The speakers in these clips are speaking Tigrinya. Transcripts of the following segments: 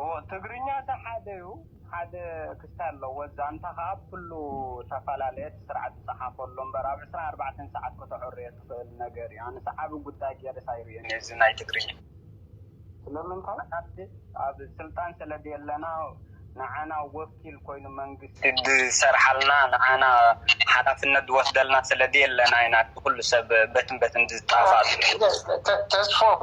እወ ትግርኛ እታ ሓደ እዩ ሓደ ክስታይ ኣለዎ ዛንታ ከኣ ብ ኩሉ ተፈላለየ እቲ ስርዓት ዝጸሓፎ ኣሎ እምበር ኣብ ዕስራን ኣርባዕተን ሰዓት ከተዐርዮ ትክእል ነገር እዩ ኣነስ ዓቢ ጉዳይ ጌረስ ኣይርእዮን እየ እዚ ናይ ትግርኛ ስለምንታይ ዓዲ ኣብ ስልጣን ስለ ደየለና ንዓና ወኪል ኮይኑ መንግስቲ ዝሰርሓልና ንዓና ሓላፍነት ዝወስደልና ስለ ደየለና ኢና እቲ ኩሉ ሰብ በትን በትን ዝጣፋኣሉ። ተስፎም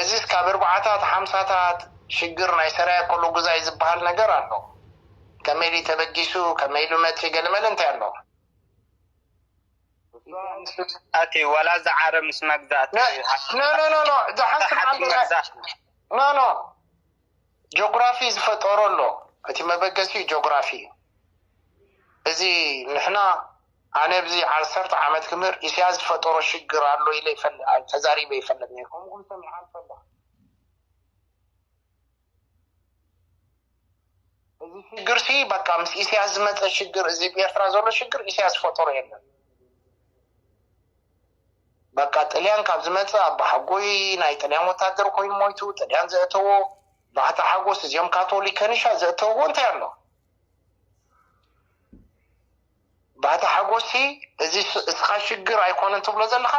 እዚስ ካብ እርባዓታት ሓምሳታት ሽግር ናይ ሰራየ ኮሎ ጉዛይ ዝባሃል ነገር ኣሎ ከመይ ኢሊ ተበጊሱ ከመይ ኢሉ መጺ ገለመለ እንታይ ኣሎ። እዛ ምስ መግዛእቲ ዋላ እዛ ዓረብ ምስ መግዛእቲ ሃገራት ኖኖ ጆግራፊ ዝፈጠሮ ኣሎ እቲ መበገሲኡ ጆግራፊ እዩ እዚ ንሕና ኣነ ብዚ ዓሰርተ ዓመት ክምር ኢስያስ ዝፈጠሮ ሽግር ኣሎ ኢለ ተዛሪበ ኣይፈልጥ ነይረ ከምኡ ውን ሰሚዐ ኣይፈልጥን እዚ ሽግር ሲ በቃ ምስ ኢስያስ ዝመፀ ሽግር እዚ ብኤርትራ ዘሎ ሽግር ኢስያስ ዝፈጠሮ የለን በቃ ጥልያን ካብ ዝመፀ ኣባሓጎይ ናይ ጥልያን ወታደር ኮይኑ ሞይቱ ጥልያን ዘእተዎ ባሕቲ ሓጎስ እዚኦም ካቶሊክ ከኒሻ ዘእተውዎ እንታይ ኣሎ ባታ ሓጎስሲ እዚ እስኻ ሽግር ኣይኮነን ትብሎ ዘለኻ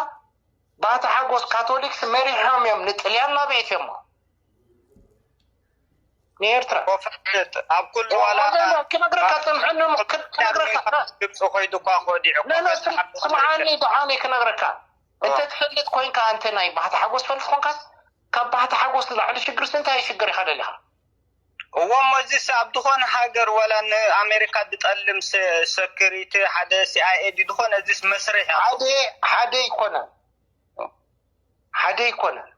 ባታ ሓጎስ ካቶሊክስ መሪሖም እዮም ንጥልያን ናበኤትዮሞ ንኤርትራ ኣብ ኩሉ ዋላ ክነግረካ ጽንሐኒ እሞ ክነግረካ ግብፂ ኮይዱ እኳ ኮዲዑ ስምዓኒ ደሓኒ ክነግረካ እንተ ትፈልጥ ኮይንካ እንተ ናይ ባህታ ሓጎስ ፈልጥ ኮንካስ ካብ ባህታ ሓጎስ ንላዕሊ ሽግርስ እንታይ ሽግር ኢኻ ደሊኻ እዎሞ እዚስ ኣብ ድኮነ ሃገር ዋላ ን ኣሜሪካ ድጠልም ሰክሪቲ ሓደ ሲኣይኤ ድዩ ድኮነ እዚስ መስርሕ እዩ። ሓደ ኣይኮነን ሓደ ኣይኮነን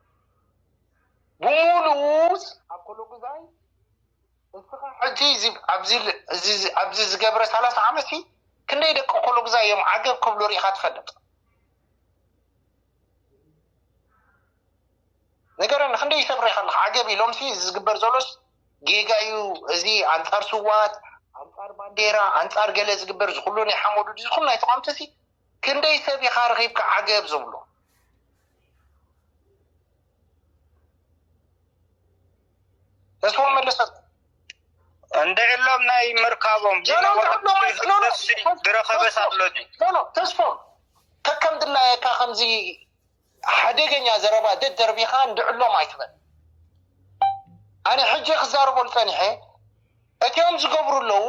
ብሙሉኡስ። ኣኮሎጉዛይ እስኻ ሕጂ እዚ ኣብዚ ዝገብረ ሰላሳ ዓመትሲ ክንደይ ደቂ ኮሎጉዛይ እዮም ዓገብ ክብሉ ሪኢኻ ትፈልጥ። ንገረኒ ክንደይ ተብሪኻ ኣለኻ ዓገብ እዩ ሎምሲ እዚ ዝግበር ዘሎስ ጌጋ እዩ እዚ ኣንጻር ስዋት ኣንጻር ባንዴራ ኣንጻር ገለ ዝግበር ዝኩሉ ናይ ሓመዱ ዝኩሉ ናይ ተቋምቲ እዚ ክንደይ ሰብ ኢኻ ረኺብካ ዓገብ ዝብሎ ተስፎም መለሰ እንድዕሎም ናይ ምርካቦም ድረኸበስ ኣሎ ተስፎ ከከም ድላየካ ከምዚ ሓደገኛ ዘረባ ደደርቢኻ እንድዕሎም ኣይትበል ኣነ ሕጂ ክዛረበሉ ጸኒሐ እቲኦም ዝገብሩ ኣለዉ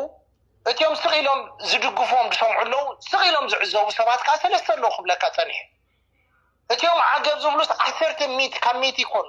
እቲኦም ስቕ ኢሎም ዝድግፍዎም ዝሰምዑ ኣለዉ ስቕ ኢሎም ዝዕዘቡ ሰባት ከዓ ሰለስተ ኣለዉ ክብለካ ጸኒሐ እቲኦም ዓገብ ዝብሉስ ዓሰርተ ሚት ካብ ሚት ይኮኑ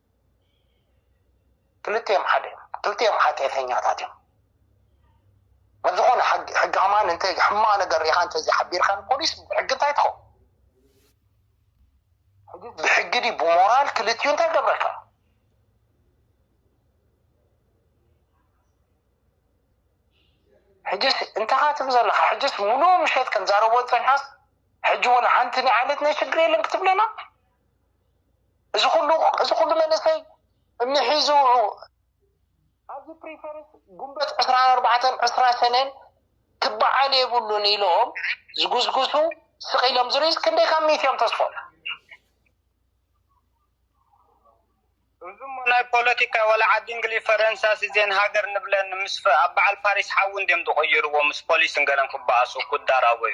ክልቲኦም ሓደ እዮም ክልቲኦም ሓጥየተኛታት እዮም ኣብ ዝኾነ ሕጊ ከማን እንተ ሕማቕ ነገር ሪኢኻ እንተዘይ ሓቢርካ ፖሊስ ሕጊ እንታይ ትኸው ብሕጊ ዲ ብሞራል ክልቲኡ እንታይ ገብረካ ሕጅስ እንተኻ ትብ ዘለኻ ሕጅስ ሙሉ ምሸት ከም ዛረቦ ፀኒሓስ ሕጂ ወላ ሓንቲ ናይ ዓለት ናይ ሽግር የለን ክትብለና እዚ ኩሉ እዚ ኩሉ መንእሰይ እምኒ ሒዙ ኣብዚ ፕሪፈርስ ጉንበት ዕስራን ኣርባዕተን ዕስራ ሰነን ክበዓል የብሉን ኢሎም ዝጉስጉሱ ስቕ ኢሎም ዝርዩስ ክንደይ ካብ ሚእቲ እዮም ተስፎም እዚ እሞ ናይ ፖለቲካ ወላ ዓዲ እንግሊዝ ፈረንሳስ እዜን ሃገር ንብለን ምስ ኣብ በዓል ፓሪስ ሓዊ እንድዮም ዝቕይርዎ ምስ ፖሊስን ገለን ክበኣሱ ክዳራበዩ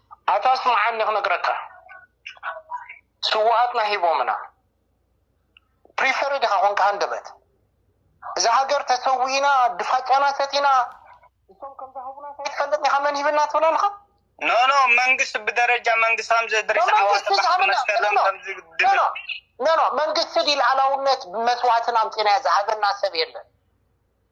ኣታ ስምዓኒ ክነግረካ ስውኣትና ሂቦምና ፕሪፈሪ ዲኻ ኮንካ ሃንደበት እዛ ሃገር ተሰዊእና ድፋጫና ሰቲና እሶም ከምዛ ህቡና ሳይትፈልጥ ኒኻ መን ሂብና ትብል ኣለኻ። ኖ ኖ መንግስት ብደረጃ መንግስት ከምዚ እድሪስ ዓወት ባሕቲ መስከረም ከምዚ ድብል ኖ ኖ መንግስት ዲ ልኣላውነት መስዋእትን ኣምጺናዮ ዝሃበና ሰብ የለን።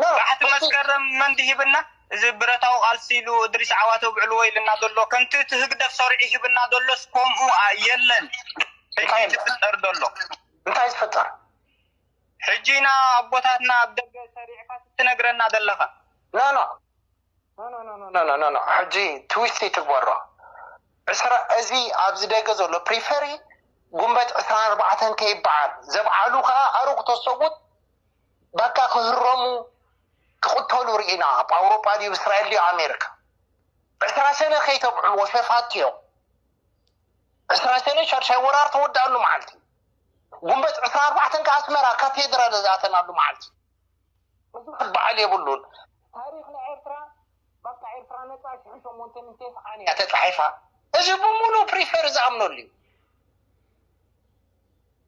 ባሕቲ መስከረም መን ድሂብና እዚ ብረታዊ ቃልሲ ኢሉ እድሪስ ዓዋተ ኣብዕልዎ ኢልና ዘሎ ከምቲ እቲ ህግደፍ ሰርዑ ይህብና ዘሎስ ኮምኡ የለን ሕጂ ዝፍጠር ዘሎ እንታይ ዝፍጠር ሕጂ ኢና ኣቦታትና ኣብ ደገ ሰሪዕካስ እትነግረና ዘለኻ ኖኖ ኖኖኖኖኖኖኖ ሕጂ ትዊስት ይትግበሮ ዕስራ እዚ ኣብዚ ደገ ዘሎ ፕሪፈሪ ጉንበት ዕስራን ኣርባዕተን ከይበዓል ዘብዓሉ ከኣ ኣሩግ ተሰቡት ባቃ ክህረሙ ክቅተሉ ሪኢና ኣብ ኣውሮጳ ድዩ እስራኤል ድዩ ኣሜሪካ ዕስራ ሰነ ከይተብዕልዎ ሸፋቱ እዮም ዕስራ ሰነ ሻድሻይ ወራር ተወዳኣሉ መዓልቲ ጉንበት ዕስራ ኣርባዕተን ከዓ ኣስመራ ካቴድራል ዝኣተናሉ መዓልቲ እዚ ክበዓል የብሉን ታሪክ ናይ ኤርትራ በቃ ኤርትራ ነፃ ሽሕ ሸሞንተ ምንተይ ሰዓን እያ ተፃሒፋ እዚ ብምሉእ ፕሪፈር ዝኣምነሉ እዩ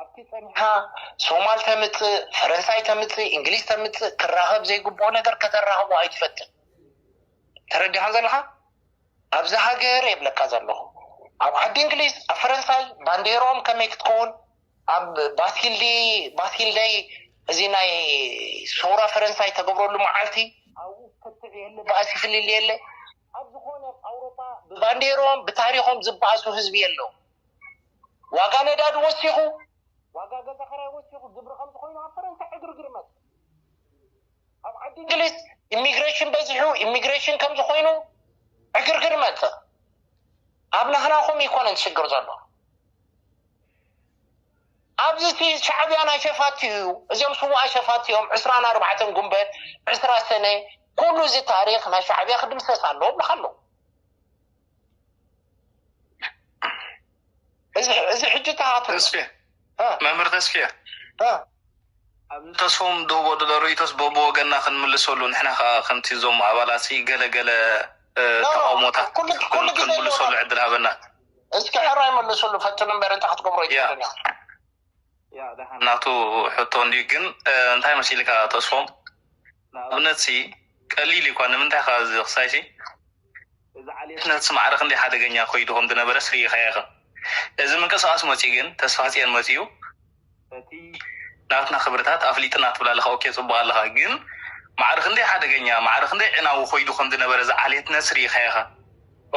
ኣብቲ ጸኒሓ ሶማል ተምጽእ ፈረንሳይ ተምጽእ እንግሊዝ ተምጽእ ክራኸብ ዘይግብኦ ነገር ከተራኽቦ ኣይትፈትን ተረዲኻን ዘለኻ ኣብዚ ሃገር የብለካ ዘለኹ ኣብ ዓዲ እንግሊዝ ኣብ ፈረንሳይ ባንዴሮም ከመይ ክትከውን ኣብ ባስኪልዲ ባስኪልደይ እዚ ናይ ሰውራ ፈረንሳይ ተገብረሉ መዓልቲ ኣብኡ ክትዕ የለ በኣሲ ፍልል የለ ኣብ ዝኾነ ኣውሮፓ ብባንዴሮም ብታሪኾም ዝበኣሱ ህዝቢ የለው ዋጋ ነዳዲ ወሲኹ፣ ዋጋ ገዛ ኸራይ ወሲኹ ግብሪ ከምዚ ኮይኑ ኣብ ፈረንሳ ዕግርግር መጸ። ኣብ ዓዲ እንግሊዝ ኢሚግሬሽን በዚሑ፣ ኢሚግሬሽን ከምዚ ኮይኑ ዕግርግር መጸ። ኣብ ናህናኹም ኣይኮነን ሽግር ዘሎ ኣብዚ እቲ ሻዕብያ ናይ ሸፋቲ እዩ እዚኦም ስዋኣ ሸፋቲ እዮም ዕስራን ኣርባዕተን ጉንበት ዕስራ ሰነ ኩሉ እዚ ታሪክ ናይ ሻዕብያ ክድምሰስ ኣለዎ ብልካ ኣለዎ እዚ ሕጂ ተሃቱ መምህር ተስፍየ ኣብ ንተስፎም ደቦ ድለ ርእቶስ በብወገና ክንምልሰሉ ንሕና ከዓ ከምቲ እዞም ኣባላት ገለገለ ተቃውሞታት ክንምልሰሉ ዕድል ሃበና እስኪ ሕራይ መልስሉ ፈትኑ እምበር እንታይ ክትገብሮ ይትክእል ያእ ደሓን ናቱ ሕቶ እንድዩ ግን እንታይ መሲልካ ተስፎም ንኣብነት ሲ ቀሊል እዩ እኳ ንምንታይ እካ እዚ ክሳይ ሲ እዚ ዓልየትነት ሲ ማዕረ ክንደይ ሓደገኛ ኮይዱ ከም ዝነበረ ሲ ሪኢካዮ ኢካ እዚ ምንቅስቃስ መፅዩ ግን ተስፋፅየን መፅዩ እቲ ናትና ክብርታት ኣፍሊጥና ትብል ኣለካ ኦኬ ፅቡቅ ኣለካ ግን ማዕረ ክንደይ ሓደገኛ ማዕረ ክንደይ ዕናዊ ኮይዱ ከም ዝነበረ እዚ ዓልየትነት ሲ ሪኢካዮ ኢካ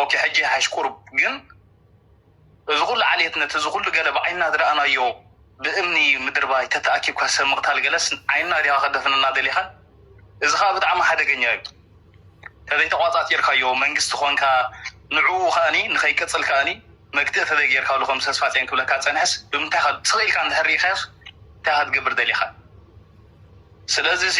ኦኬ ሕጂ ይሓይሽ ቁሩብ ግን እዚ ኩሉ ዓሌትነት እዚ ኩሉ ገለ ብዓይንና ዝረኣናዮ ብእምኒ ምድርባይ ተተኣኪብካ ሰብ ምቕታል ገለስ ዓይንና ዲኻ ከደፍነና ደሊኻ እዚ ከኣ ብጣዕሚ ሓደገኛ እዩ ተዘይተቋጻጺርካዮ መንግስቲ ኮንካ ንዕኡ ከኣኒ ንኸይቅጽል ከኣኒ መግትኢ ተዘይጌርካሉ ከምዚ ተስፋጽዮን ክብለካ ዝጸንሐስ ብምንታይ ኢኻ ስቕ ኢልካ እንድሕር ርኢኻዮስ እንታይ ኢኻ ክትገብር ደሊኻ ስለዚሲ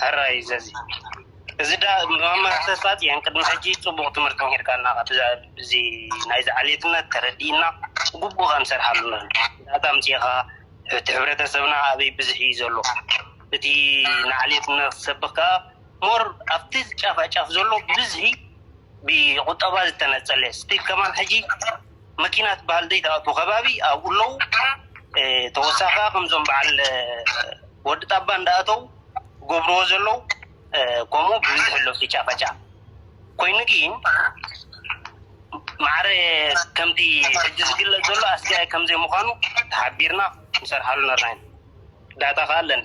ሕራይ ዘዚ እዚ ዳኣ መምህር ተስፋጽዮን ቅድሚ ሕጂ ጽቡቅ ትምህርቲ ምሂርካና ኢካ እዚ ናይዚ ዓሌትነት ተረዲእና ብግቡእ ከንሰርሓሉ ንክእል ዳእታ ኣምጺእካ እቲ ሕብረተሰብና ኣበይ ብዝሕ ኢዩ ዘሎ እቲ ንዓሌትነት ክትሰብክ ካኣ ሞር ኣብቲ ጫፋጫፍ ዘሎ ብብዝሒ ብቁጠባ ዝተነጸለ ስቲል ከማን ሕጂ መኪና ትበሃል ዘይትኣቱ ከባቢ ኣብኡ ኣለው ተወሳኪ ከኣ ከምዞም በዓል ወዲ ጣባ እንዳኣተው ዝገብርዎ ዘለው ከምኡ ብብዝሒ ኣሎ ፍጫፈጫ ኮይኑ ግን ማዕረ ከምቲ ሕጂ ዝግለጽ ዘሎ ኣስጋኢ ከምዘይ ምኳኑ ተሓቢርና ክንሰርሓሉ ነርና ኢና ዳታ ከኣ ኣለና።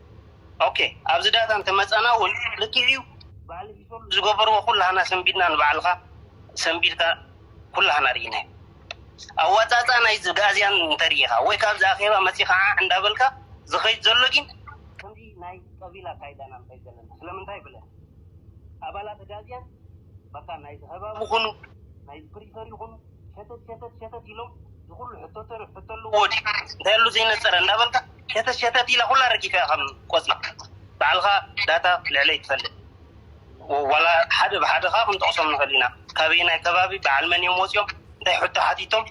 ኦኬ ኣብዚ ዳታ እንተ መጸና ውን ልክዕ እዩ በዓል ሪፎርም ዝገበርዎ ኩላህና ሰንቢድና ንባዕልካ ሰንቢድካ ኩላህና ሪኢናዮ ኣዋጻጽኣ ናይዚ ጋእዝያን እንተ ሪኢኻ ወይ ካብዚ ኣኼባ መጺኻ ዓዕ እንዳ በልካ ዝኸይድ ዘሎ ጊን ከምዚ ናይ ቀቢል ኣካይዳ ኢና ንኸይድ ዘለና ስለምንታይ ብለን ኣባላት ኣጋዝያን በቃ ናይዚ ከባቢ ኩኑ ናይዚ ፕሪፈር ይኹኑ ሸተት ሸተት ሸተት ኢሎም ዝኹሉ ሕቶ ተሪፍ ሕቶ ኣለዎ ድዩ እንታይ ኣሎ ዘይነፀረ እንዳበልካ ሸተት ሸተት ኢላ ኩላ ረጊፈያ ከም ቆፅሊ ባዕልኻ ዳታ ልዕለይ ትፈልጥ ዋላ ሓደ ብሓደ ከዓ ክንጠቕሶም ንኽእል ኢና ካበየናይ ከባቢ በዓል መን እዮም ወፂኦም እንታይ ሕቶ ሓቲቶም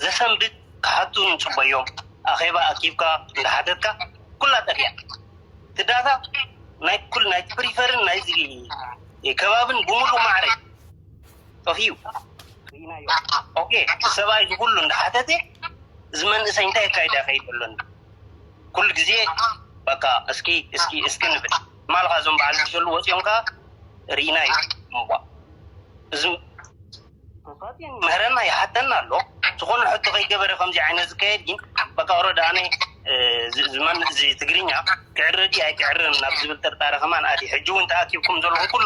ዘሰንብድ ክሓቱ ንፅበዮም ኣኼባ ኣኪብካ እንዳሓተትካ ኩላ ጠፊኣ እቲ ዳታ ናይ ኩል ናይ ፕሪፈርን ናይዚ ከባብን ብምሉእ ማዕረ እዩ ጠፊኡ ርኢናዮ ኦኬ እቲ ሰብኣይ እዚ ኩሉ እንዳሓተተ እዚ መንእሰይ እንታይ የካይዳ ይኸይድ ኣሎ እንዶ ኩሉ ግዜ በቃ እስኪ እስኪ እስኪ ንብል ማልኻ እዞም በዓል ዝሰሉ ወፂኦም ከዓ ርኢናዮ እምቧእ እዚ ተሳትየን ይምህረና ይሓተና ኣሎ ዝኾነ ሕቶ ከይገበረ ከምዚ ዓይነት ዝካየድ ግን በቃ ወረዳ ኣነ እ፣ እዚ እዚ መን እዚ ትግርኛ ክዕረ ድዩ ኣይክዕርን ናብ ዝብል ጥርጣረ ከማን ኣትየ ሕጂ እውን ተኣኪብኩም ዘለኹም ኩሉ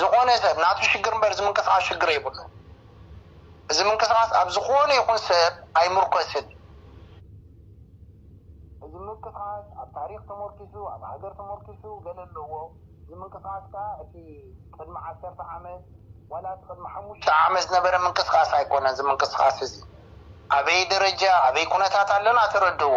ዝኾነ ሰብ ናቱ ሽግር እምበር እዚ ምንቅስቃስ ሽግር የብሉን። እዚ ምንቅስቃስ ኣብ ዝኾነ ይኹን ሰብ ኣይምርኮስን። እዚ ምንቅስቃስ ኣብ ታሪኽ ተሞርኪሱ ኣብ ሃገር ተሞርኪሱ ገለ ኣለዎ። እዚ ምንቅስቃስ ከኣ እቲ ቅድሚ ዓሰርተ ዓመት ዋላ እቲ ቅድሚ ሓሙሽተ ዓመት ዝነበረ ምንቅስቃስ ኣይኮነን። እዚ ምንቅስቃስ እዚ ኣበይ ደረጃ ኣበይ ኩነታት ኣለና ተረድእዎ።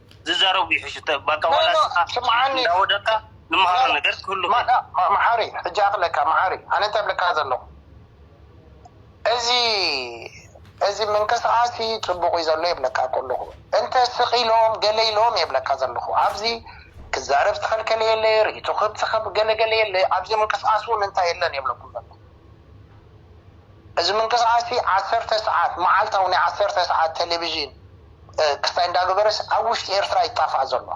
ዝዛረቡ ይሕሹ ባካ ዋላ ንስካ እንዳወደቅካ ንመሃሮ ነገር ክህሉ ክእል። መሓሪ ሕጂ ኣክለካ መሓሪ ኣነ እንታይ እብለካ ዘለኩ እዚ እዚ ምንቅስቃስ ጽቡቅ እዩ ዘሎ የብለካ ከለኩ እንተ ስቅ ኢሎም ገለ ኢሎም የብለካ ዘለኩ ኣብዚ ክዛረብ ዝተከልከለ የለ ሪኢቶ ክህብ ገለ ገለ የለ ኣብዚ ምንቅስቃስ ውን እንታይ የለን የብለኩም ዘለኩ። እዚ ምንቅስቓስ'ዚ ዓሰርተ ሰዓት፣ መዓልታዊ ናይ ዓሰርተ ሰዓት ተለቪዥን ክስታይ እንዳገበረስ ኣብ ውሽጢ ኤርትራ ይጣፋእ ዘሎ።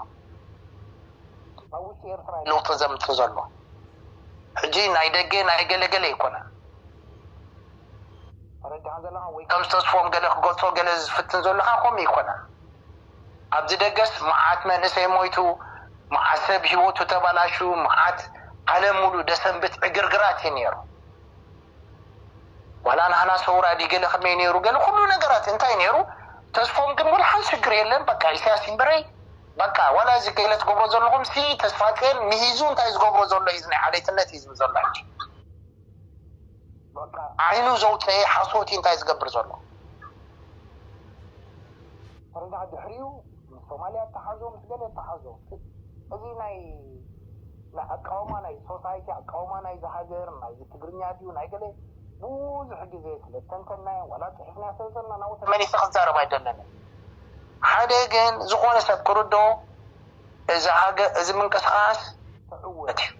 ኣብ ውሽጢ ኤርትራ'ዩ ለውጢ ዘምጽእ ዘሎ። ሕጂ ናይ ደገ ናይ ገለ ገለ ኣይኮነን። ተረዲኻ ዘለኻ ወይ ከምዚ ተስፎም ገለ ክገልጾ ገለ ዝፍትን ዘሎ ከኣ ከምኡ ኣይኮነን። ኣብዚ ደገስ መዓት መንእሰይ ሞይቱ መዓት ሰብ ሂወቱ ተባላሽዩ መዓት ዓለም ሙሉእ ደሰንብት ዕግርግራት እዩ ኔሩ ዋላ ናህና ሰውራ ድዩ ገለ ከመይ ኔሩ ገለ ኩሉ ነገራት እንታይ ኔሩ ተስፎም ግን ወላሓንቲ ሽግር የለን በቃ ኢሰያስ ይንበረይ በቃ ዋላ እዚ ገለ ትገብሮ ዘለኹም ሲ ተስፋጼን ሚሂዙ እንታይ ዝገብሮ ዘሎ እዩ እዚ ናይ ዓሌትነት እዩ ዝብል ዘሎ ሕጂ። ዓይኑ ዘውፀኤ ሓሶት እዩ እንታይ ዝገብር ዘሎ። ፕረዳ ድሕሪኡ ምስ ሶማልያ እተሓዞ ምስ ገለ እተሓዞ እዚ ናይ ናይ ኣቃውማ ናይ ሶሳይቲ ኣቃውማ ናይዚ ሃገር ናይዚ ትግርኛ ድዩ ናይ ገለ ብዙሕ ግዜ ስለ ዝተንተንናዮ ዋላ ፅሒፍናዮ ስለ ዘለና ናብኡ ተመሊሰ ክዛረብ ኣይደለንን ሓደ ግን ዝኾነ ሰብ ክርድኦ እዚ ሃገር እዚ ምንቅስቓስ ክዕወት እዩ።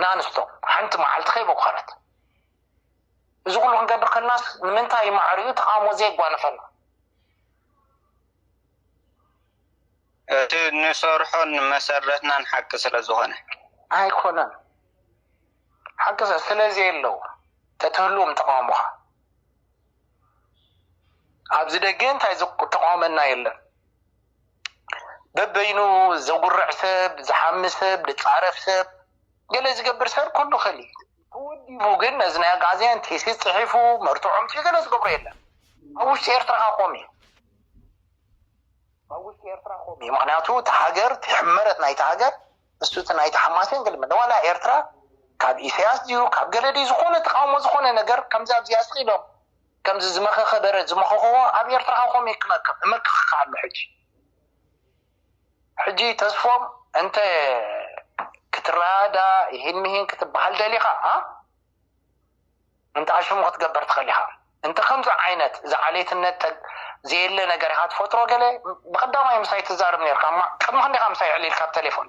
ንኣንስቶ ሓንቲ መዓልቲ ከይቦኸረት እዚ ኩሉ ክንገብር ከልናስ ንምንታይ ማዕሪኡ ተቓውሞ ዘየጓነፈና? እቲ ንሰርሖን መሰረትናን ሓቂ ስለዝኾነ። ኣይኮነን ሓቂ ስለዘየለው ተትህልዎም ተቓውሞኻ ኣብዚ ደገ እንታይ ዘተቓወመና የለን። በበይኑ ዘጉርዕ ሰብ፣ ዝሓሚ ሰብ፣ ዝጻረፍ ሰብ፣ ገለ ዝገብር ሰብ ኩሉ ይኽእል እዩ። ተወዲቡ ግን ነዚ ናይ ኣግኣዝያን ቴሲስ ጽሒፉ መርትዖም ሲ ገለ ዝገብሮ የለን። ኣብ ውሽጢ ኤርትራ ከ ኮም እዩ። ኣብ ውሽጢ ኤርትራ ኮም እዩ። ምክንያቱ እቲ ሃገር እቲ ሕመረት ናይቲ ሃገር ንሱ እቲ ናይቲ ሓማሴን ገለ መለ ዋላ ኤርትራ ካብ ኢሰያስ ድዩ ካብ ገለ ድዩ ዝኾነ ተቃውሞ ዝኾነ ነገር ከምዚ ኣብዚኣ ስቅ ኢሎም ከምዚ ዝመኸኸ በሬ ዝመኸኸዎ ኣብ ኤርትራ ከከም እየ ክመክኽ እመክኸካ ኣሎ ሕጂ ሕጂ ተስፎም እንተ ክትረኣዳ ይህን ምሂን ክትበሃል ደሊኻ ኣ እንተ ኣሽሙ ክትገበር ትኸሊኻ እንተ ከምዚ ዓይነት እዚ ዓሌትነት ዘየለ ነገር ኢኻ ትፈጥሮ ገለ ብቀዳማይ ምሳይ ትዛረብ ነርካ ቅድሚ ክንደኻ ምሳይ ዕሊልካ ብ ቴሌፎን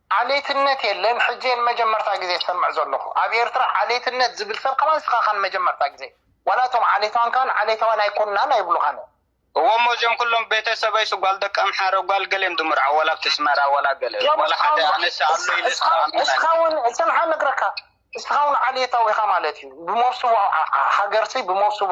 ዓሌትነት የለን ሕጂ እየ ንመጀመርታ ግዜ ዝሰምዕ ዘለኹ ኣብ ኤርትራ ዓሌትነት ዝብል ሰብ ከማን እስኻ እኻ ንመጀመርታ ግዜ ዋላ እቶም ዓሌታውያን ከማን ዓሌታውያን ኣይኮናን ኣይብሉኻን እዮም። እወ እሞ እዚኦም ኩሎም ቤተሰበይስ ጓል ደቂ ኣምሓረ ጓል ገለ እዮም ድምርዖ ዋላ ኣብቲ ኣስመራ ዋላ ገለ እዮም ዋላ ሓደ ኣነስ ኣሎ ኢለስ ክኣምን ኣይክእልን። እስኻ ውን ጽንሓ ነግረካ እስኻ ውን ዓሌታዊ ኢኻ ማለት እዩ ብሞብስቦ ሃገርሲ ብሞብስቦ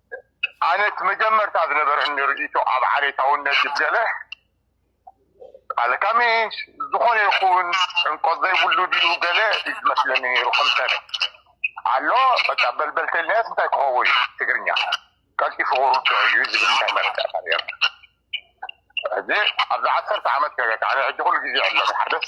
ኣነ እቲ መጀመርታ ዝነበረኒ ርእይቶ ኣብ ዓሌታውነት ድዩ ገለ ኣለካ ምሽ ዝኾነ ይኹን ዕምቆት ዘይብሉ ድዩ ገለ እዩ ዝመስለኒ ነይሩ ከም ሰነ ኣሎ በቃ በልበልተልነት እንታይ ክኸውን እዩ ትግርኛ ቀልጢፉ ክርድኦ እዩ ዝብል እንታይ መረዳእታ ነይሩ እዚ ኣብዚ ዓሰርተ ዓመት ገገ ኣነ ሕጂ ኩሉ ግዜ ኣሎ ሓደስ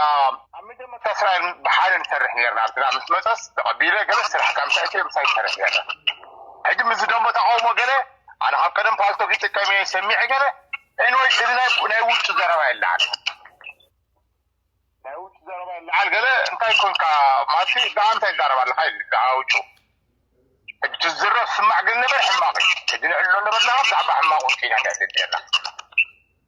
ኣብ መጀመርታ እስራኤል ብሓደ ንሰርሕ ኔርና ኣብቲ ናብ ምስ መጸስ ተቐቢለ ገለ ስራሕ ካብ ምሳይ እትዮ ምሳይ ንሰርሕ ኔርና ሕጂ ምስዚ ደንቦ ተቃውሞ ገለ ኣነ ካብ ቀደም ፓልቶክ ይጥቀም እየ ሰሚዐ ገለ ኤንወይ እዚ ናይ ውጭ ዘረባ የለዓል ናይ ውጭ ዘረባ የለዓል ገለ እንታይ ኮንካ ማሲ ብኣ እንታይ ይዛረብ ኣለካ ኢሉ ብዛዕባ ውጩ ሕጂ ትዝረብ ስማዕ ግን ነበር ሕማቕ እዩ ሕጂ ንዕሎ ነበርና ብዛዕባ ሕማቕ ውጭ ኢና ንዕልል ኔርና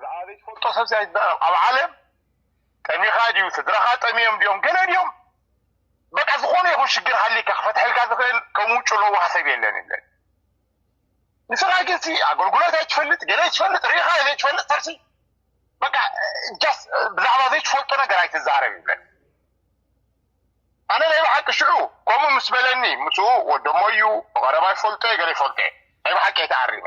ዝኣ ዘይትፈልጦ ሰብ ኣይትዛረብ ኣብ ዓለም ጠሚኻ ድዩ ስድራኻ ጠሚዮም ድዮም ገለ ድዮም በቃ ዝኾነ ይኹን ሽግር ሃሊካ ክፈትሐልካ ዝኽእል ከም ውጩ ለዋህ ሰብ የለን የለን ንስኻ ግን ሲ ኣገልግሎት ኣይትፈልጥ ገለ ኣይትፈልጥ ርኢኻ ዘይትፈልጥ ሰብሲ በቃ ጃስ ብዛዕባ ዘይትፈልጦ ነገር ኣይትዛረብ ይብለን ኣነ ናይ ብሓቂ ሽዑ ከምኡ ምስ በለኒ ምስኡ ወደሞ እዩ ብቐረባ ይፈልጦ ገለ ይፈልጦ ናይ ብሓቂ ኣይተኣሪመ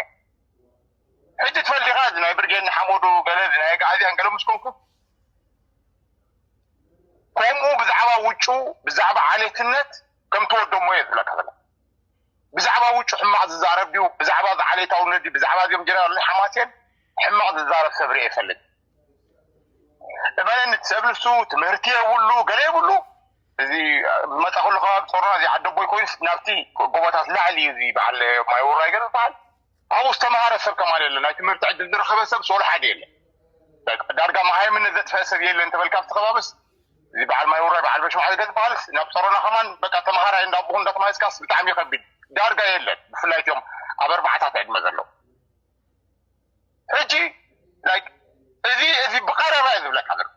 ሕጂ ትፈልጥ ኢኻ እዚ ናይ ብርጌድ ንሓመዱ ገለ እዚ ናይ ኣግዓዝያን ገለ ምስ ኮንኩ ከምኡ ብዛዕባ ውጩ ብዛዕባ ዓሌትነት ከም ተወደሞ እየ ዝብለካ ዘለ ብዛዕባ ውጩ ሕማቕ ዝዛረብ ድዩ ብዛዕባ ዝዓሌታውነት ድዩ ብዛዕባ እዚኦም ጀነራል ሓማሴን ሕማቕ ዝዛረብ ሰብ ርኤ ይፈልጥ እመነኒ እቲ ሰብ ንሱ ትምህርቲ የብሉ ገለ የብሉ እዚ መፃ ኩሉ ከባቢ ፆርና እዚ ዓዲ ኣቦይ ኮይኑስ ናብቲ ጎቦታት ላዕሊ እዩ እዚ በዓል ማይ ውራይ ገ ዝበሃል ኣብኡ ዝተምሃረ ሰብ ከማን የለ ናይ ትምህርቲ ዕድል ዝረኸበ ሰብ ሶሎ ሓደ የለ ዳርጋ መሃይምነት ዘጥፈአ ሰብ የለ እንተበልካ ኣብቲ ከባብስ እዚ በዓል ማይ ውራይ በዓል በሽማዕ ገ ዝበሃልስ ናብ ፆሮና ከማን በቃ ተምሃራይ እንዳቦኹ እንዳተማሃዝካስ ብጣዕሚ ይኸቢድ ዳርጋ የለን ብፍላይ እትኦም ኣብ ኣርባዕታት ዕድመ ዘለዉ ሕጂ like እዚ እዚ ብቀረባ እየ ዝብለካ ዘለኩ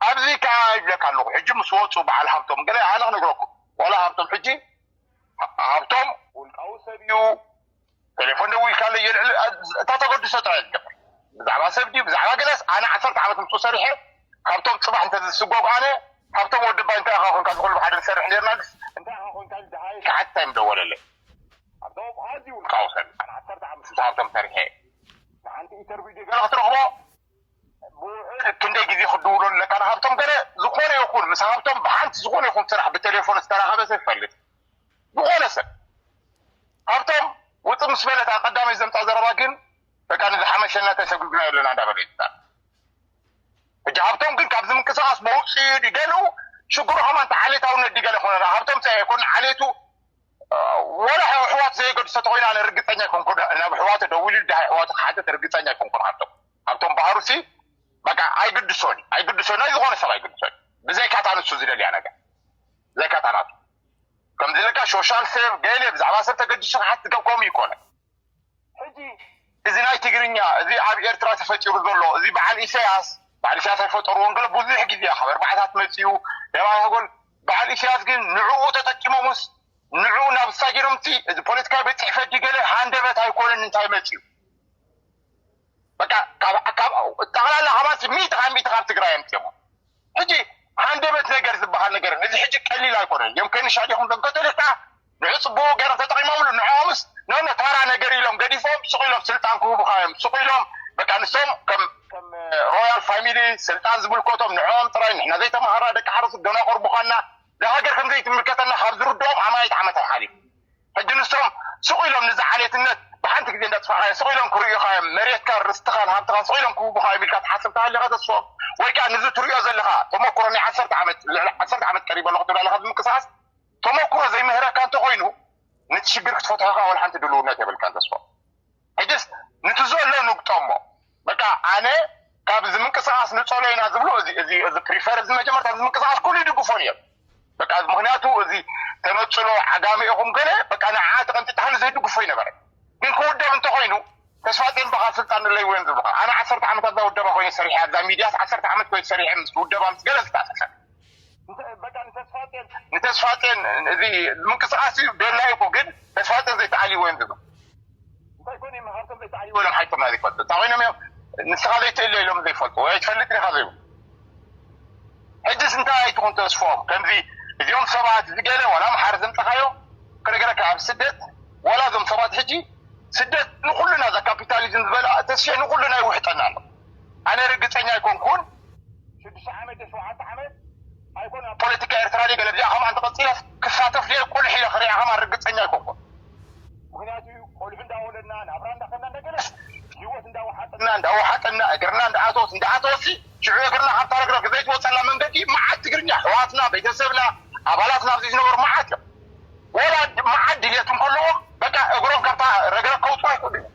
ኣብዚ ከኣ ይብለካ ኣለኩ ሕጂ ምስ ወጹ በዓል ሃብቶም ገለ ኣነ ክነግረኩም ዋላ ሃብቶም ሕጂ ሃብቶም ውልቃዊ ሰብ እዩ ቴሌፎን ደዊልካለይ የልዕል እታ ተገድሶ ጥራይ ዝገብር ብዛዕባ ሰብ ድዩ ብዛዕባ ገለስ ኣነ ዓሰርተ ዓመት ምስኡ ሰሪሐ ሃብቶም ጽባሕ እንተ ዝስጎግ ኣነ ሃብቶም ወዲ ባይ እንታይ ኢኻ ኮንካ ዝኹሉ ብሓደ ንሰርሕ ኔርና ድስ እንታይ ኢኻ ኮንካ ደሃየ ሸሓት እንታይ ምደወለለይ ኣቶም ኣዝዩ ውልቃዊ ሰብ ኣነ ዓሰርተ ዓመት ምስ ሃብቶም ሰሪሐ ንሓንቲ ኢተርቪው ድዩ ገለ ክትረኽቦ ብውዕል ክንደይ ግዜ ክትድውሎ ኣለካ ንሃብቶም ገለ ዝኾነ ይኹን ምስ ሃብቶም ብሓንቲ ዝኾነ ይኹን ስራሕ ብቴሌፎን ዝተራኸበ ሰብ ይፈልጥ ዝኾነ ሰብ ሃብቶም ውፅ ምስ በለት ኣቀዳመይ ዘምፃ ዘረባ ግን በቃ ንዝሓመሸና ተሰጉግና ኣለና እንዳበለ ይትታል እጅ ሃብቶም ግን ካብዚ ምንቅስቃስ መውፅኡ ድገሉ ሽግሩ ከማን ዓሌታውነት ድገለ ኮነ ሃብቶም ፀ ኮነ ዓሌቱ ወላ ሕዋሕዋት ዘየገድሶ ተኮይኑ ኣነ ርግፀኛ ኣይኮንኩን ናብ ሕዋተ ደዊሉ ድሃይ ሕዋተ ክሓተት ርግፀኛ ኣይኮንኩን ሃብቶም ሃብቶም ባህሩ ሲ በቃ ኣይግድሶን ኣይግድሶን ናይ ዝኾነ ሰብ ኣይግድሶን ብዘይካታ ንሱ ዝደልያ ነገር ዘካታ ናቱ ከምዚ ለካ ሶሻል ሰብ ገለ ብዛዕባ ሰብ ተገዲሱ ክሓት ዝገብከም ይኮነ ሕጂ እዚ ናይ ትግርኛ እዚ ኣብ ኤርትራ ተፈጢሩ ዘሎ እዚ በዓል ኢሰያስ በዓል ኢሰያስ ኣይፈጠርዎን ገለ ብዙሕ ግዜ ካብ ኣርባዓታት መጺኡ ናይ ባዕላ ጎል በዓል ኢሰያስ ግን ንዕኡ ተጠቂሞምስ ንዕኡ ናብ ዝታይ ጌሮም እቲ እዚ ፖለቲካዊ ቤት ጽሕፈት ድዩ ገለ ሃንደበት ኣይኮነን እንታይ መጺኡ በቃ ካብ ካብ ጠቕላላ ካባቲ ሚእቲ ካብ ሚእቲ ካብ ትግራይ ኣምጺኦሞ ሕጂ ሃንደበት ነገር ዝበሃል ነገር እዚ ሕጂ ቀሊል ኣይኮነን ዮም ከንሻ ዲኹም ዘም ከቶሊክ ከኣ ንዕጽቦ ገይሮም ተጠቂሞምሉ ንዕኦምስ ኖኖ ታራ ነገር ኢሎም ገዲፎም ሱቅ ኢሎም ስልጣን ክህቡካ እዮም ሱቅ ኢሎም በቃ ንሶም ከም ከም ሮያል ፋሚሊ ስልጣን ዝምልከቶም ንዕኦም ጥራይ ንሕና ዘይተማሃራ ደቂ ሓረስቶት ደናቁር ምኳንና ዛሃገር ከም ዘይትምልከተና ካብ ዝርድኦም ኣማኢት ዓመታት ሓሊፉ ሕጂ ንሶም ሱቅ ኢሎም ንዚ ዓሌትነት ብሓንቲ ግዜ እንዳጥፋዕካዮ ሱቅ ኢሎም ክርእዩካ እዮም መሬትካን ርስትኻን ሃብትኻን ሱቅ ኢሎም ክህቡካ እዮም ኢልካ ትሓስብ ተሃሊኻ ተስፍኦም ወይ ከኣ ንዚ ትርእዮ ዘለኻ ተመኩሮ ናይ ዓሰርተ ዓመት ልዕሊ ዓሰርተ ዓመት ቀሪበ ኣለኹ ትብል ኣለኻ ብምቅሳስ ተመኩሮ ዘይምህረካ እንተኮይኑ ነቲ ሽግር ክትፈትሖ ከኣ ወላሓንቲ ድሉውነት የብልካን ተስፎም ሕጅስ ንቲ ዘሎ ንግጠሞ በቃ ኣነ ካብ እዚ ምንቅስቃስ ንጸሎ ኢና ዝብሉ እዚ እዚ እዚ ፕሪፈር እዚ መጀመርታ እዚ ምንቅስቃስ ኩሉ ይድግፎን እዮም በቃ ምክንያቱ እዚ ተነጽሎ ዓጋመ ኢኹም ገለ በቃ ንዓ ተቀንጢጣህን ዘይድግፎ ይነበረ ግን ክውደብ እንተኮይኑ ተስፋጼን በኻ ስልጣን ንለይ ወን ዝብልካ ኣነ ዓሰርተ ዓመት ኣብዛ ውደባ ኮይነ ሰሪሐ ኣብዛ ሚድያስ ዓሰርተ ዓመት ኮይነ ሰሪሐ ምስ ውደባ ምስ ገለ ዝተኣሳሰር በቃ ንተስፋጼን ንተስፋጼን እዚ ምንቅስቃስ እዩ ቤላ ይኩ ግን ተስፋጼን ዘይተዓልዎ እዮም ዝብሉ እንታይ ኮን እዩ መሃርቶም ዘይተዓልዎ ኢሎም ሓይቶምና ዘይፈልጡ እንታይ ኮይኖም እዮም ንስኻ ዘይትእለ ኢሎም ዘይፈልጡ ወይ ኣይትፈልጥ ዲኻ ዘይብሉ ሕጅስ እንታይ ኣይትኹን ተስፎም ከምዚ እዚኦም ሰባት እዚ ገለ ዋላ ኣምሓር ዘምፀኻዮ ክነገረካ ኣብ ስደት ዋላ እዞም ሰባት ሕጂ ስደት ንኩሉና እዛ ካፒታሊዝም ዝበላ ተስፊ ንኩሉና ይውሕጠና ኣሎ ኣነ ርግጸኛ ኣይኮንኩን ሽዱሽተ ዓመት ድዩ ሸውዓተ ዓመት ኣይኮን ኣብ ፖለቲካ ኤርትራ ድየ ገለ ብዚኣ ከምኣ እንተ ቀጺለስ ክሳተፍ ድየ ቁልሕ ኢለ ክሪኣ ከምኣ ርግጸኛ ኣይኮንኩን ምክንያቱ ቆልዑ እንዳ ወለድና ናብራ እንዳ ከድና እንዳ ገለስ ሂወት እንዳ ወሓጠና እንዳ ወሓጠና እግርና እንዳ ኣተወት እንዳ ኣተወትሲ ሽዑ እግርና ካብታ ረግረግ ዘይትወጸላ መንገዲ መዓት ትግርኛ ኣሕዋትና ቤተሰብና ኣባላትና ኣብዚ ዝነበሩ መዓት እዮም ወላ መዓት ድልየት እንከለዎም በቃ እግሮም ካብታ ረግረግ ከውጽኡ ኣይክእሉን እዮም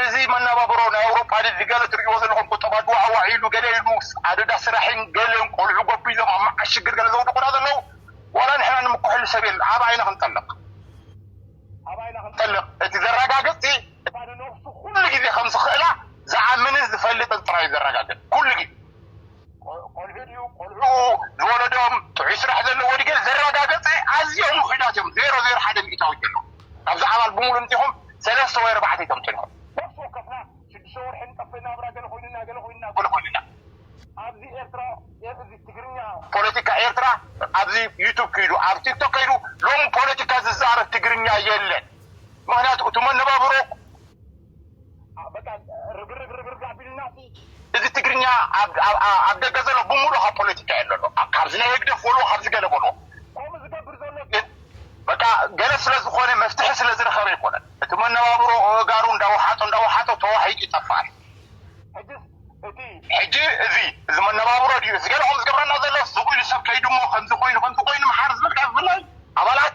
እዚ መናባብሮ ናይ ኣውሮጳ ንዚ ገለ ትርእይዎ ዘለኹም ቁጠባ ድዋዕዋዕ ኢሉ ገለ ኢሉ ኣደዳ ስራሕን ገለን ቆልዑ ጎቢዞም ኣብ መዓሽ ሽግር ገለ ዘውድቁና ዘለዉ ዋላ ንሕና ንምከሐሉ ሰብ የለን ኣበይ ኢና ክንጠልቅ ኣበይ ኢና ክንጠልቅ እቲ ዘራጋግጽሲ እታ ንነብሱ ኩሉ ግዜ ከም ዝኽእላ ዝኣምንን ዝፈልጥን ጥራይ እዩ ዘራጋግጽ ኩሉ ግዜ ቆልዑ ድዩ ቆልዑኡ ዝወለዶም ጥዑይ ስራሕ ዘለዎ ድዩ ገለ ዘረጋገጸ ኣዝዮም ውሑዳት እዮም ዜሮ ዜሮ ሓደ ሚእታዊት እዮም ካብዛ ኣባል ብምሉእ እንቲኹም ሰለስተ ወይ ኣርባዕተ ተምጽእልኩም ነፍሲ ወከፍና ሽዱሽተ ወርሒ ንጠፍእ ናብራ ገለ ኮይኑና ገለ ኮይኑና ገለ ኮይኑና ኣብዚ ኤርትራ እዚ ትግርኛ ፖለቲካ ኤርትራ ኣብዚ ዩቱብ ክይዱ ኣብ ቲክቶክ ከይዱ ሎሚ ፖለቲካ ዝዛረብ ትግርኛ የለን ምክንያቱ እቲ መነባብሮ በቃ ርግርግ ርግርግ ኣቢሉና እቲ እዚ ትግርኛ ኣብ ደገ ዘሎ ብምሉእ ካብ ፖለቲካ የለ ኣሎ ካብዚ ናይ ህግደፍ በልዎ ካብዚ ገለ በልዎ ከምኡ ዝገብር ዘሎ ግን በቃ ገለ ስለ ዝኾነ መፍትሒ ስለ ዝረኸበ ኣይኮነን እቲ መነባብሮ እጋሩ እንዳወሓጦ እንዳወሓጦ ተዋሒጡ ይጠፍኣል ሕጂ እቲ ሕጂ እዚ እዚ መነባብሮ ድዩ እዚ ገለ ከም ዝገብረና ዘሎ ስቕ ኢሉ ሰብ ከይዱ እሞ ከምዚ ኮይኑ ከምዚ ኮይኑ ምሓር ዝብል ካብ ብፍላይ ኣባላት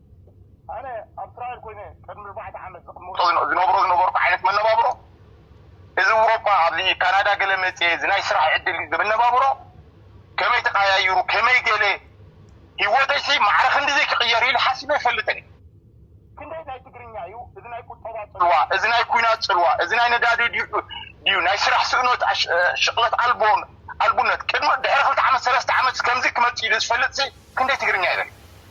ኣነ ኣብ እስራኤል ኮይነ ቅድሚ ኣርባዕተ ዓመት ዝቅመጦ ዝነብሮ ዝነበርኩ ዓይነት መነባብሮ እዚ ውሮጳ ኣብዚ ካናዳ ገለ መጽየ እዚ ናይ ስራሕ ዕድል መነባብሮ ከመይ ተቃያይሩ ከመይ ገለ ሂወተይሲ ማዕረ ክንድዚ ክቅየር እዩ ኢለ ሓሲበ ኣይፈልጥን እየ። ክንደይ ናይ ትግርኛ እዩ እዚ ናይ ቁጠባ ጽልዋ እዚ ናይ ኩናት ጽልዋ እዚ ናይ ነዳዲ ድዩ ናይ ስራሕ ስእኖት ሽቅለት ኣልቦ ኣልቡነት ቅድሚ ድሕሪ ክልተ ዓመት ሰለስተ ዓመትሲ ከምዚ ክመጽእ እዩ ኢለ ዝፈልጥሲ ክንደይ ትግርኛ ይበል።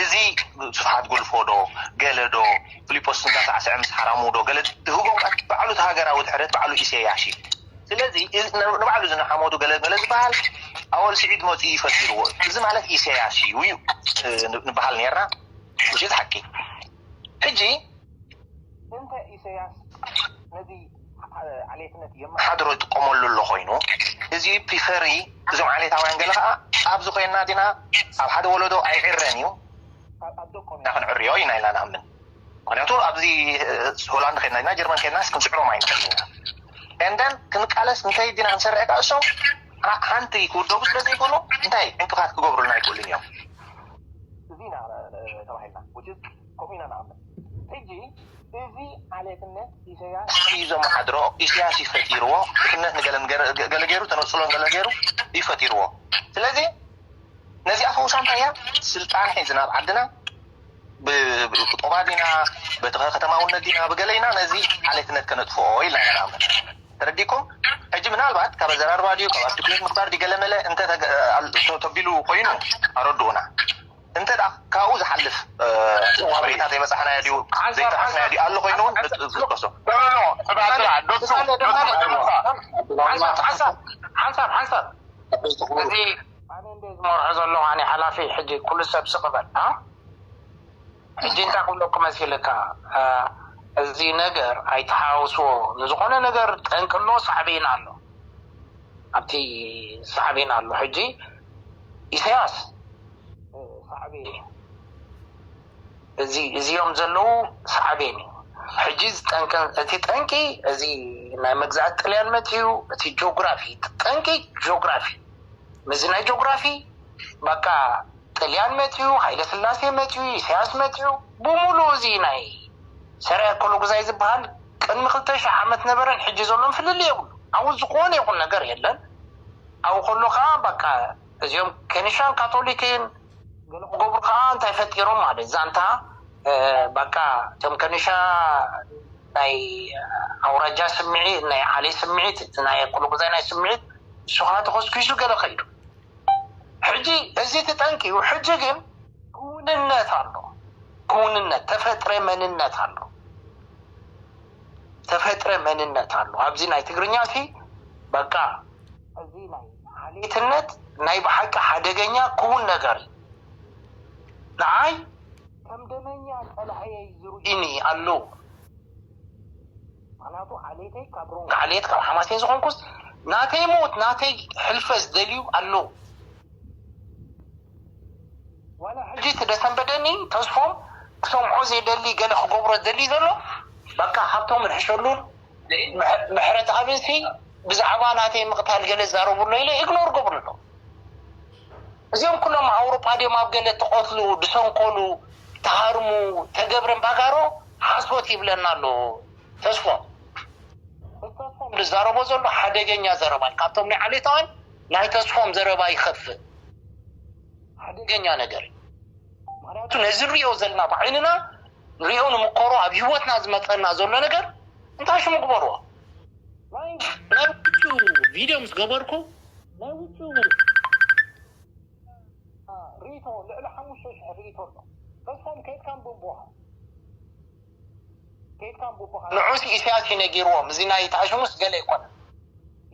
እዚ ስብሓት ጉልፎ ዶ ገለ ዶ ፍሊጶስ እንዳሳዕሰዐ ምስ ሓራሙ ዶ ገለ ዝህቦም ቃል ባዕሉ እቲ ሃገራዊ ድሕረት ባዕሉ ኢሰያሽ እዩ ስለዚ ንባዕሉ እዚ ንሓሞቱ ገለ ገለ ዝባሃል ኣወል ሲዒድ መጺኡ እዩ ፈጢርዎ እዚ ማለት ኢሰያሽ እዩ እዩ ንባሃል ኔርና which is ሓቂ ሕጂ እንተ ኢሰያስ ነዚ ዓሌትነት የመሓድሮ ይጥቀመሉ ኣሎ ኮይኑ እዚ ፒፈሪ እዞም ዓሌታውያን ገለ ከኣ ኣብዚ ኮይንና ግና ኣብ ሓደ ወለዶ ኣይዕረን እዩ ኣብ ደቆም ኢና ክንዕርዮ ኢና ኢልና ንኣምን ምክንያቱ ኣብዚ ሆላንድ ከድና ግና ጀርመን ከድናስ ክንስዕሮም ኣይንክእልን ኢና and then ክንቃለስ እንተ ኢልና ክንሰርዕ ከኣ እሶም ሓንቲ ክውደቡ ስለ ዘይክእሉ እንታይ ዕንቅፋት ክገብሩልና ኣይክእሉን እዮም እዚ ኢና ተባሂልና which is ከምኡ ኢና ንኣምን። ሕጂ እዚ ዓሌትነት ኢሰያስ ኢዩ ዘመሓድሮ፣ ኢሰያስ ኢዩ ፈጢርዎ፣ ድኽነት ንገለ ገለ ገይሩ፣ ተነጽሎ ንገለ ገይሩ ኢዩ ፈጢርዎ። ስለዚ ነዚኣ ፈውሳ እንታይ ኢያ? ስልጣን ሒዝና ኣብ ዓድና ብቁጠባ ዲና ብከተማውነት ዲና ብገለ ኢና ነዚ ዓሌትነት ከነጥፍኦ ኢልና ኢና ንኣምን። ተረዲእኩም? ሕጂ ምናልባት ካብ ኣዘራርባ ዲዩ ካብ ኣርቲኩሌት ምግባር ዲዩ ገለ መለ እንተ ተቢሉ ኮይኑ ኣረድኡና። እንተ ካብኡ ዝሓልፍ ሓበሬታ ዘይበጻሕናዮ ድዩ ዘይጠቐስናዮ ድዩ ኣሎ ኮይኑ ንጥቀሶ። ኣነ እንድየ ዝመርሖ ዘለኹ ኣነ ሓላፊ ሕጂ ኩሉ ሰብ ስቅ በል ሕጂ እንታይ ክብለኩም መሲልካ እዚ ነገር ኣይትሓዋውስዎ ንዝኾነ ነገር ጠንቂ ኣሎ ሳዕቤን ኣሎ ኣብቲ ሳዕቤን ኣሎ ሕጂ ኢሰያስ ሳዕቤን እዩ እዚ እዚኦም ዘለዉ ሳዕቤን እዩ ሕጂ እዚ ጠንቂ እቲ ጠንቂ እዚ ናይ መግዛእቲ ጥልያን መጺኡ እቲ ጆግራፊ እቲ ጠንቂ ጆግራፊ ምዚ ናይ ጆግራፊ በቃ ጥልያን መጺኡ ሃይለ ስላሴ መጺኡ ኢሰያስ መጺኡ ብሙሉ እዚ ናይ ሰርያ ኮሎግዛይ ዝበሃል ቅድሚ ክልተ ሽሕ ዓመት ነበረን ሕጂ ዘሎን ፍልልይ የብሉ ኣብኡ ዝኾነ ይኹን ነገር የለን ኣብኡ ከሎ ከኣ ባቃ እዚኦም ከኒሻን ካቶሊክን ገለ ክገብሩ ከኣ እንታይ ፈጢሮም ማለት ዛንታ ባቃ እቶም ከኒሻ ናይ ኣውራጃ ስምዒት ናይ ዓሌ ስምዒት እቲ ናይ ኣኮሎጉዛይ ናይ ስምዒት እሱ ከኣ ተኾስኪሱ ገለ ከይዱ ሕጂ እዚ እቲ ጠንቂ እዩ ሕጂ ግን ክውንነት ኣሎ ክውንነት ተፈጥረ መንነት ኣሎ ተፈጥረ መንነት ኣሎ ኣብዚ ናይ ትግርኛ ሲ ባቃ እዚ ናይ ዓሌትነት ናይ ብሓቂ ሓደገኛ ክዉን ነገር እዩ። ንዓይ ከም ደመኛ ጸላእየይ ዝርእዩኒ ኣለዉ። ምኽንያቱ ዓሌተይ ካብ ሮንግ ዓሌት ካብ ሓማሴን ዝኾንኩስ ናተይ ሞት ናተይ ሕልፈት ዝደልዩ ኣለዉ። ዋላ ሕጂ እቲ ደሰንበደኒ ተስፎም ክሰምዖ ዘይደሊ ገለ ክገብሮ ዝደሊ ዘሎ በቃ ሃብቶም ንሕሸሉን፣ ምሕረትኣብን ሲ ብዛዕባ ናተይ ምቕታል ገለ ዛረቡ ኣሎ ኢለ ኢግኖር ገብሩ ኣሎ እዚኦም ኩሎም ኣውሮጳ ድዮም ኣብ ገለ ተቐትሉ ድሰንኮሉ ተሃርሙ ተገብረን ባጋሮ ሓሶት ይብለና ኣሎ ተስፎም ተስፎም ዝዛረቦ ዘሎ ሓደገኛ ዘረባ እዩ ካብቶም ናይ ዓሌታውያን ናይ ተስፎም ዘረባ ይኸፍእ ሓደገኛ ነገር እዩ ምክንያቱ ነዚ ንሪኦ ዘለና ብዓይንና ንሪኦ ንምኮሮ ኣብ ሂወትና ዝመፀና ዘሎ ነገር እንታይ ሽሙ ግበርዎ ናይ ናይ ውጩ ቪድዮ ምስ ገበርኩ ናይ ውጩ ሪኢቶ ልዕሊ ሓሙሽተ ሽሕ ሪኢቶ ኣሎ ተስፎም ከይድካ ንብቦካ ከይድካ ንብቦካ ንዑስ ኢሳያስ እዩ ነጊርዎም እዚ ናይ ታሽሙስ ገለ ኣይኮነን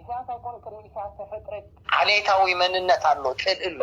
ኢሳያስ ኣይኮነ ቅድሚ ኢሳያስ ተፈጥረ ዓሌታዊ መንነት ኣሎ ፅልኢ ኣሎ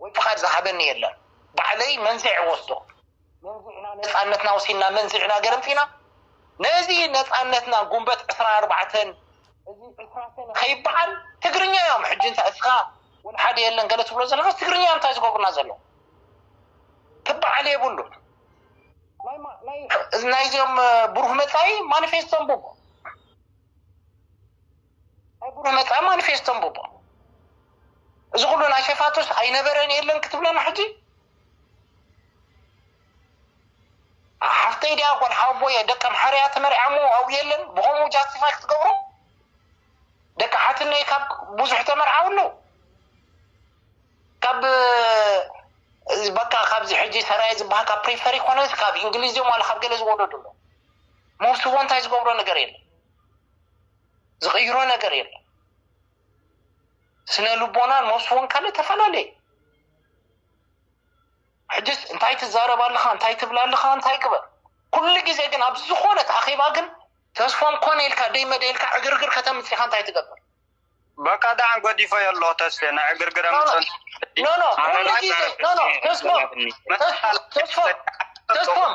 ወይ ፍቓድ ዝሃበኒ የለን ባዕለይ መንዚዐ ወስዶ። መንዚዕና ነጻነትና ወሲድና መንዚዕና ገረምጺና ነዚ ነጻነትና ጉንበት ዕስራን ኣርባዕተን እዚ ዕስራ ሰነ ከይብዓል ትግርኛ እዮም ሕጂ እንታይ እስኻ ወልሓደ የለን ገለ ትብሎ ዘለኻስ ትግርኛ እንታይ ዝገብሩና ዘለዉ ክብዓል የብሉን ናይዚኦም ብሩህ መጻኢ ማኒፌስቶ ኣንብቦ። ኣቡነ መትከል ማኒፌስቶ ኣንብቦ እዚ ኩሉ ናይ ሸፋቱስ ኣይነበረን የለን ክትብለና ሕጂ ሓፍተይ ድያ ጓል ሓወቦ እየ ደቀ ምሓርያ ተመሪዓሞ ኣብኡ የለን ብከምኡ ጃስቲፋይ ክትገብሮ ደቂ ሓትነይ ካብ ብዙሕ ተመርዓው ኣለዉ ካብ በቃ ካብዚ ሕጂ ሰራየ ዝበሃል ካብ ፕሪፈሪ ኮነስ ካብ እንግሊዝ እዮም ዋላ ካብ ገለ ዝወለዱ ኣሎ መውስቦ እንታይ ዝገብሮ ነገር የለን ዝቅይሮ ነገር የለን ስነ ልቦና ኖስ ወንካለ ተፈላለየ ሕጅስ እንታይ ትዛረብ ኣለኻ እንታይ ትብል ኣለኻ እንታይ ግበር ኩሉ ግዜ ግን ኣብ ዝኾነት ኣኼባ ግን ተስፎም ኮነ ኢልካ ደይ መደ ኢልካ ዕግርግር ከተምፅኻ እንታይ ትገብር በቃ ዳዕን ጎዲፎ የሎ ተስፌ ናይ ዕግርግረ ምፅን ኖኖ ኩሉ ግዜ ኖኖ ተስፎም ተስፎም ተስፎም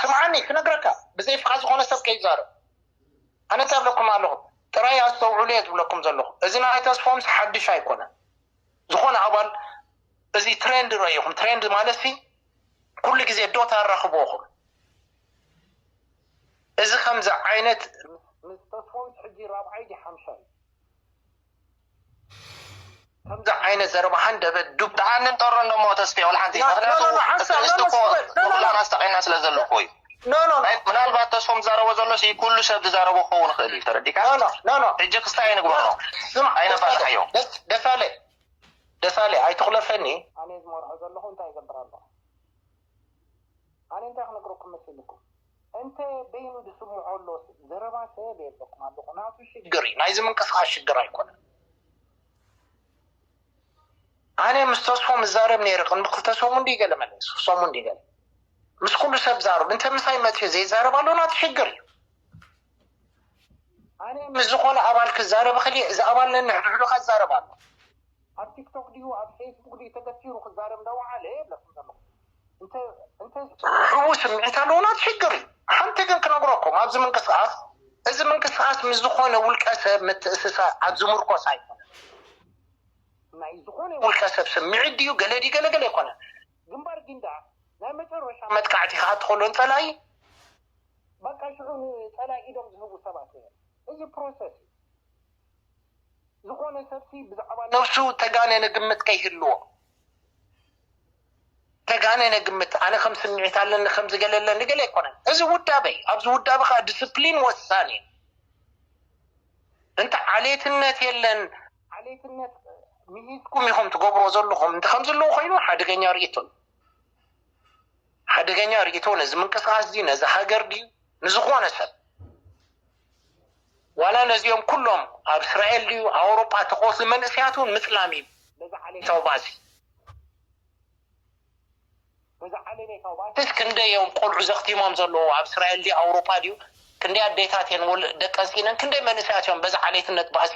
ስምዓኒ ክነግረካ ብዘይ ፍቓድ ዝኾነ ሰብ ከይዛረብ ኣነ እንታይ እብለኩም ኣለኹ ጥራይ ኣስተውዕሉ እየ ዝብለኩም ዘለኹ እዚ ናይ ተስፎምስ ሓድሽ ኣይኮነን ዝኾነ ኣባል እዚ ትሬንድ ረኢኹም ትሬንድ ማለት ሲ ኩሉ ግዜ ዶት ኣራኽብኹም እዚ ከምዚ ዓይነት ምስ ተስፎምስ ሕጂ ራብዓይ ዲ ሓምሻይ ከምዚ ዓይነት ዘረባ ሃንደበ ዱብ ተኣንን ጠሮን ዶሞ ተስፌ ወላ ሓንቲ ምክንያቱ እስቲ እኮ ንኩላና ኣስጠቂና ስለ ዘሎ እኮ እዩ ምናልባት ተስፎም ዝዛረቦ ዘሎ ሲ ኩሉ ሰብ ዝዛረቦ ክኸውን ይኽእል እዩ ተረዲካ ሕጂ ክስቲ ኣይንግበሮ ኣይነፋልሓዮ ደሳለ ደሳለ ኣይትኹለፈኒ ኣነ ዝመርሖ ዘለኹ እንታይ ይገብር ኣሎ ኣነ እንታይ ክነግረኩም መሲልኩም እንተ በይኑ ዝስምዖ ኣሎ ዘረባ ሰብ የብለኩም ኣለኩ ናቱ ሽግር እዩ ናይዚ ምንቅስቃስ ሽግር ኣይኮነን ኣነ ምስ ተስፎ ምዛረብ ነይረ ቅድሚ ክልተ ሰሙን ድዩ ገለ መለስ ሰሙን ድዩ ገለ ምስ ኩሉ ሰብ ዛረብ እንተ ምሳይ መፅዮ ዘይዛረብ ኣሎ ናቲ ሽግር እዩ ኣነ ምስ ዝኾነ ኣባል ክዛረብ ክል እዚ ኣባል ነንሕድሕዱ ከዛረብ ኣሎ ኣብ ቲክቶክ ድዩ ኣብ ፌስቡክ ድዩ ተገቲሩ ክዛረብ እንዳወዓለ የለኹም ዘለኹም እንተ እንተ ሕቡእ ስምዒት ኣለዎና ትሽግር እዩ ሓንቲ ግን ክነግረኩም ኣብዚ ምንቅስቃስ እዚ ምንቅስቃስ ምስ ዝኾነ ውልቀ ሰብ ምትእስሳር ኣብ ዝምርኮስ ኣይኮነ ናይ ዝኾነ ውልቀ ሰብ ስምዒት ድዩ ገለ ድዩ ገለ ገለ ኣይኮነ ግንባር ጊንዳዕ ናይ መጨረሻ መጥቃዕቲ ከዓ ትኸሎ ንፀላኢ በቃ ሽዑ ንፀላኢ ኢዶም ዝህቡ ሰባት እዮም እዚ ፕሮሰስ እዩ ዝኾነ ሰብሲ ብዛዕባ ነብሱ ተጋነነ ግምት ከይህልዎ ተጋነነ ግምት ኣነ ከም ስምዒት ኣለኒ ከም ዝገለለ ንገለ ኣይኮነን እዚ ውዳበ እዩ ኣብዚ ውዳበ ከዓ ዲስፕሊን ወሳኒ እዩ እንተ ዓሌትነት የለን ዓሌትነት ምሂዝኩም ኢኹም ትገብሮ ዘለኹም እንተ ከምዚ ኣለዎ ኮይኑ ሓደገኛ ርእቶ እዩ ሓደገኛ ርእቶ ነዚ ምንቅስቃስ እዚ ነዚ ሃገር ድዩ ንዝኾነ ሰብ ዋላ ነዚኦም ኩሎም ኣብ እስራኤል ድዩ ኣውሮጳ ተቆርሲ መንእሰያት ውን ምጽላም እዩ ነዚ ዓሌታዊ ባእሲ። ነዚ ዓሌሜታዊ ባእሲስ ክንደይ እዮም ቆልዑ ዘኽቲሞም ዘለዉ ኣብ እስራኤል ድዩ ኣውሮጳ ድዩ ክንደይ ኣዴታት እየን ወል ደቀን ሲኢነን ክንደይ መንእሰያት እዮም በዚ ዓሌትነት ባእሲ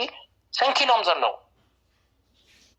ሰንኪሎም ዘለዉ።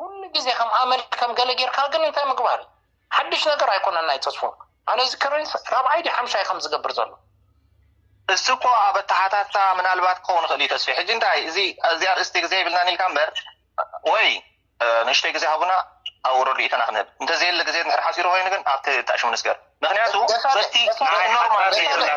ኩሉ ግዜ ከም ኣመል ከም ገለ ጌርካ ግን እንታይ ምግባር እዩ ሓድሽ ነገር ኣይኮነን ናይ ተስፉ ኣነ ዝከረንስ ራብዓይ ድዩ ሓምሻይ ከም ዝገብር ዘሎ እሱ እኮ ኣብ ኣተሓታትታ ምናልባት ክኸውን ይኽእል እዩ ተስፊ ሕጂ እንታይ እዚ እዚ ኣርእስቲ ግዜ ይብልናን ኢልካ እምበር ወይ ንእሽተይ ግዜ ሃቡና ኣብኡ ረድኢትና ክንህብ እንተዘየለ ግዜ ድሕር ሓሲሩ ኮይኑ ግን ኣብቲ ተኣሽሙ ንስገር ምክንያቱ በቲ ኖርማል ዘይብላ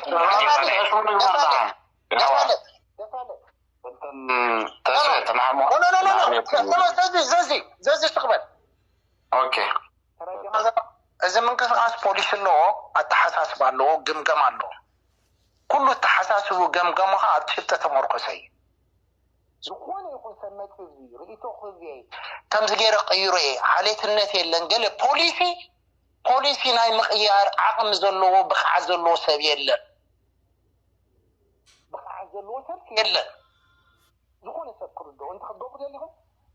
እዚ ምንቅስቃስ ፖሊሲ ኣለዎ ኣተሓሳስባ ኣለዎ ግምገማ ኣለዎ ኩሉ ኣተሓሳስቡ ገምገሙ ከዓ ኣብ ጭብጢ ተመርኮሰ እዩ ዝኾነ ይኹን ሰብ መፅኡ እዚ ርእይቶ ክህብ እየ ከምዚ ገይረ ቀይሮ እየ ዓሌትነት የለን ገለ ፖሊሲ ፖሊሲ ናይ ምቕያር ዓቕሚ ዘለዎ ብቕዓት ዘለዎ ሰብ የለን ብቕዓት ዘለዎ ሰብ የለን። ዝኾነ ሰብ ክርድኦ እንተ ክትገብሩ ደሊኹም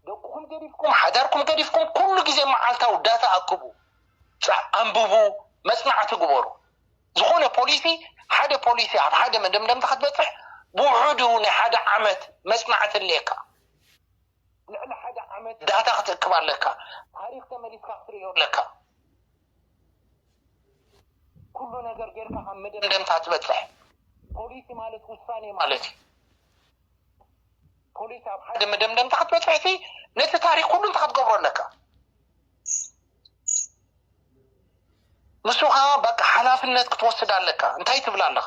ደቅኹም ገዲፍኩም ሓዳርኩም ገዲፍኩም ኩሉ ግዜ መዓልታዊ ዳታ ኣክቡ፣ ኣንብቡ፣ መጽናዕቲ ግበሩ። ዝኾነ ፖሊሲ ሓደ ፖሊሲ ኣብ ሓደ መደምደምታ ክትበጽሕ ብውሑዱ ናይ ሓደ ዓመት መጽናዕቲ ኣለካ። ልዕሊ ሓደ ዓመት ዳታ ክትእክብ ኣለካ። ታሪኽ ተመሊስካ ክትርእዮ ኣለካ። ኩሉ ነገር ጌርካ ካብ መደምደምታ ትበጽሕ። ፖሊሲ ማለት ውሳኔ ማለት እዩ። ፖሊሲ ኣብ ሓደ መደምደምታ ክትበጽሕሲ ነቲ ታሪኽ ኩሉ እንታይ ክትገብሮ ኣለካ። ንሱ ከኣ በቃ ሓላፍነት ክትወስድ ኣለካ። እንታይ ትብል ኣለኻ።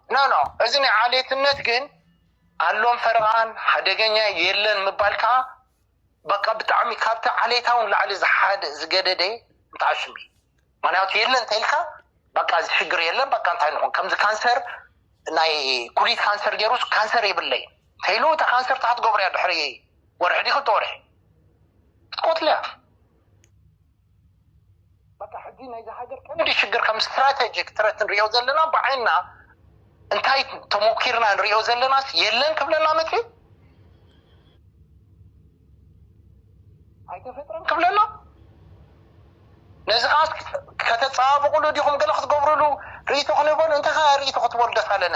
ኖኖ እዚ ናይ ዓሌትነት ግን ኣሎን ፈረቓን ሓደገኛ የለን ምባል ከኣ በቃ ብጣዕሚ ካብቲ ዓሌታዊ ንላዕሊ ዝሓደ ዝገደደ ንትዓሽም እዩ ምክንያቱ የለን ተኢልካ በቃ እዚ ሽግር የለን በቃ እንታይ ንኹን ከምዚ ካንሰር ናይ ኩሊት ካንሰር ገይሩስ ካንሰር የብለይ ተኢሉ እታ ካንሰር እንታይ ክትገብርያ ድሕሪ ወርሒ ዲ ክልተ ወርሒ ክትቆትልያ በቃ ሕጂ ናይዛ ሃገር ቀንዲ ሽግር ከም ስትራተጂክ ትረት ንሪኦ ዘለና ብዓይንና እንታይ ተሞኪርና ንሪኦ ዘለናስ የለን ክብለና መጽዩ ኣይተፈጥረን ክብለና ነዚ ከዓ ከተፀባብቕሉ ዲኹም ገለ ክትገብርሉ ርእይቶ ክንህበሉ እንታይ ከ ርእይቶ ክትበሉ ደስ ኣለነ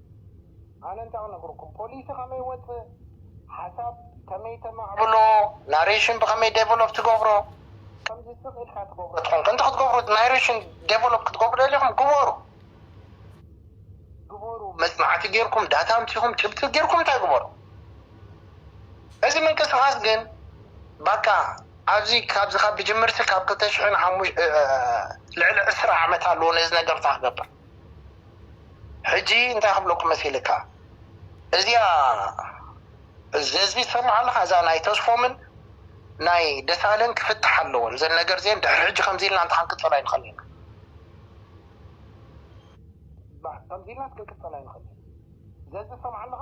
ኣነ እንታይ ክነግረኩም ፖሊሲ ከመይ ወፅእ ሓሳብ ከመይ ተማዕብሎ ናሬሽን ብከመይ ዴቨሎፕ ትገብሮ። ከምዚ ስቅ ኢልካ ትገብሮ ተኮይንካ እንተ ክትገብሩ ናሬሽን ዴቨሎፕ ክትገብሩ ደሊኩም ግበሩ ግበሩ መፅናዕቲ ገይርኩም ዳታ ኣምፂኩም ጭብጢ ገይርኩም እንታይ ግበሩ እዚ ምንቅስቃስ ግን ባቃ ኣብዚ ካብዚ ካብ ብጅምርቲ ካብ ክልተ ሽሕን ሓሙሽተ ልዕሊ ዕስራ ዓመት ኣለዎ ነዚ ነገር እንታይ ክገብር። ሕጂ እንታይ ክብለኩም መሲልካ እዚኣ ዘዚ ትሰምዓ ኣለኻ እዛ ናይ ተስፎምን ናይ ደሳለን ክፍታሓ ኣለወን ዘን ነገር ዜን ድሕሪ ሕጂ ከምዚ ኢልና እንተ ክንቅጽል ኣይንኸልን ኢና ከምዚ ኢልና ክንቅጽል ኣይንኸልን ኢና ዘዚ ትሰምዓ ኣለኻ።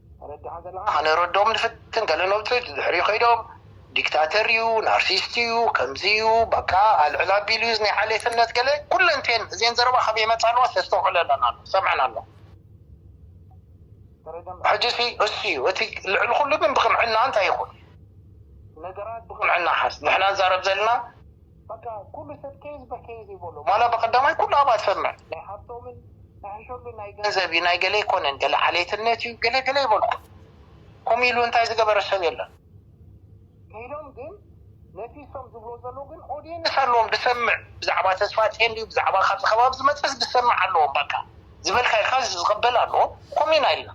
ተረዲኻ ዘለኻ ከነረድኦም ንፍትን ገለ ነብጹ ድሕሪኡ ከይዶም ዲክታተር እዩ ናርሲስት እዩ ከምዚ እዩ በቃ ኣልዕል ኣቢሉ እዩ ናይ ዓሌትነት ገለ ኩለን እቴን እዜን ዘረባ ካበይ ይመጻ ኣለዋ ተስተውዕለለን ኣሎ ትሰምዐን ኣሎ ሕጂሲ እሱ እዩ እቲ ልዕሊ ኩሉ ግን ብቅንዕና እንታይ ይኹን ነገራት ብቅንዕና ሓዝ ንሕና ንዛረብ ዘለና በቃ ኩሉ ሰብ ኬዝ በኬዝ እዩ በሎ ዋላ በቀዳማይ ኩሉ ኣባል ሰምዕ ናይ ሃብቶምን ንሕሸሉ ናይ ገንዘብ እዩ ናይ ገለ ኣይኮነን ገለ ዓሌትነት እዩ ገለ ገለ ይበልኩ ኮምኡ ኢሉ እንታይ ዝገበረ ሰብ የለን ከይዶም ግን ነቲ እሶም ዝብሎ ዘለው ግን ኦድየንስ ኣለዎም ድሰምዕ ብዛዕባ ተስፋጼን ድዩ ብዛዕባ ካብዚ ከባቢ ዝመጸስ ድሰምዕ ኣለዎም በቃ ዝበልካ ኢልካ ዝቀበል ኣለዎ ኮምኡ ኢና ኢልና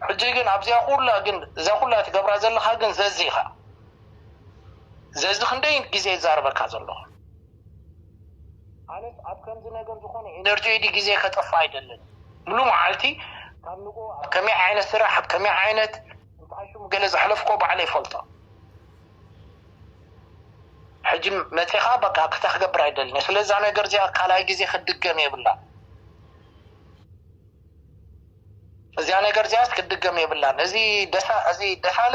ሕጂ ግን ኣብዚኣ ኩላ ግን እዛ ኩላ ትገብራ ዘለካ ግን ዘዚካ ዘዚ ክንደይ ግዜ ይዛረበካ ዘሎ። ኣነስ ኣብ ከምዚ ነገር ዝኮነ ኤነርጆይ ድዩ ግዜ ከጥፍእ ኣይደልን ሙሉ መዓልቲ ካብ ንግሆ ኣብ ከመይ ዓይነት ስራሕ ኣብ ከመይ ዓይነት እንታይ ሽሙ ገለ ዘሕለፍኮ ባዕለይ ይፈልጦ ሕጂ መጺካ በቃ ክታ ክገብር ኣይደልን እየ ስለዚ እዛ ነገር እዚኣ ካልኣይ ግዜ ክትድገም የብላን እዚኣ ነገር እዚኣስ ክትድገም የብላን እዚ ደሳ እዚ ደሳለ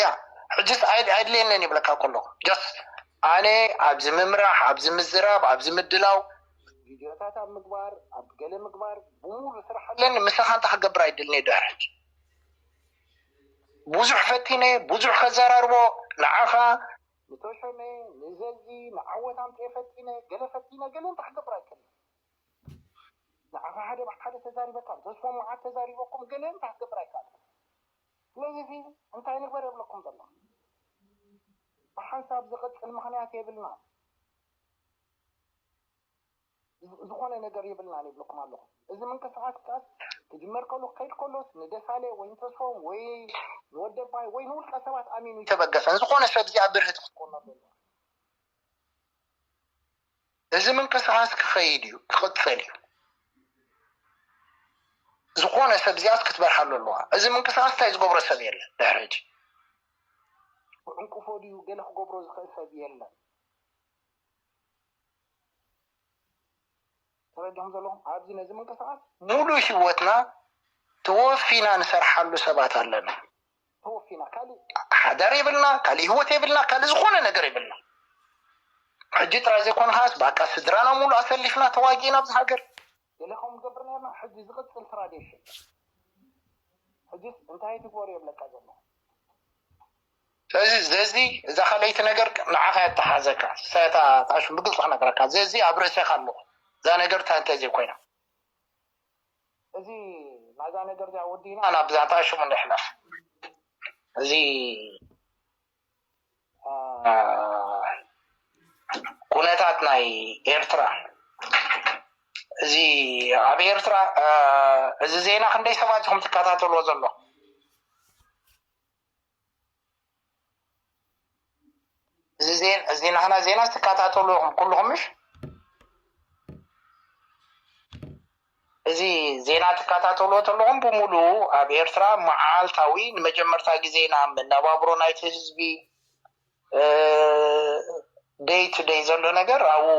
ያ ሕጅስ ኣይድልየንን ይብለካ ከሎ ጀስ ኣነ ኣብዚ ምምራሕ ኣብዚ ምዝራብ ኣብዚ ምድላው ቪድዮታት ኣብ ምግባር ኣብ ገለ ምግባር ብሙሉ ስራሕ ኣለኒ ምሳኻ እንተ ክገብር ኣይድልኒ ድሕር ሕጂ ብዙሕ ፈቲነ ብዙሕ ከዘራርቦ ንዓኻ ንተሾመ ንዘዚ ንዓወት ኣምፅኤ ፈቲነ ገለ ፈቲነ ገለ እንተ ክገብር ኣይክእልን ንዓኻ ሓደ ብሓደ ተዛሪበካ ተስፎ መዓት ተዛሪበኩም ገለ እንተ ክገብር ኣይከኣልኩ ስለዚ እዚ እንታይ ንግበር የብለኩም ዘሎ ብሓንሳብ ዝቅጽል ምክንያት የብልናን ዝኮነ ነገር የብልናን ይብለኩም ኣለኩ እዚ ምንቅስቃስቃስ ክጅመር ከሉ ክከይድ ከሎስ ንደሳሌ ወይ ንተስፎም ወይ ንወደባይ ወይ ንውልቀ ሰባት ኣሚኑ ይተበገሰን ዝኮነ ሰብ እዚኣ ብርህቲ ክትኮኖ ኣለዎ እዚ ምንቅስቓስ ክኸይድ እዩ፣ ክቕፅል እዩ። ዝኾነ ሰብ እዚኣስ ክትበርሃሉ ኣለዋ። እዚ ምንቅስቓስ እንታይ ዝገብሮ ሰብ የለን ድሕሪ ሕጂ ክዕንቅፎ ድዩ ገለ ክገብሮ ዝኽእል ሰብ የለን። ተረዲኹም ዘለኹም ኣብዚ ነዚ ምንቅስቃስ። ሙሉእ ሂወትና ተወፊና ንሰርሓሉ ሰባት ኣለና። ተወፊና ካሊእ ሓዳር የብልና ካሊእ ሂወት የብልና ካሊእ ዝኾነ ነገር የብልና። ሕጂ ጥራይ ዘይኮነ ከዓስ ባቃ ስድራና ሙሉእ ኣሰሊፍና ተዋጊእና ኣብዚ ሃገር። ገለ ከምኡ ንገብር ኔርና ሕጂ ዝቅጽል ትራዴሽን ሕጂስ እንታይ ትግበሩ እየ እብለካ ዘለኹ። ስለዚ ዘዚ እዛ ካልኣይቲ ነገር ንዓኻ እያ እትሓዘካ ስታይ እታ ኣሽሙ ብግልጺ ክነግረካ ዘዚ ኣብ ርእሴኻ ኣለኹ እዛ ነገር እንታይ እንተዘይ ኮይና እዚ ናይዛ ነገር እዚኣ ወዲእና ናብ ዛዕታ ኣሽሙ ንሕለፍ እዚ ኩነታት ናይ ኤርትራ እዚ ኣብ ኤርትራ እዚ ዜና ክንደይ ሰባት ኢኹም ትከታተልዎ ዘሎ እዚ ናህና ዜና ትከታተሉ ኢኹም ኩሉኹም ምሽ እዚ ዜና ትከታተሉ ተለኹም ብምሉ ኣብ ኤርትራ መዓልታዊ ንመጀመርታ ግዜ ኢና መነባብሮ ናይቲ ህዝቢ ደይ ቱ ደይ ዘሎ ነገር ኣብኡ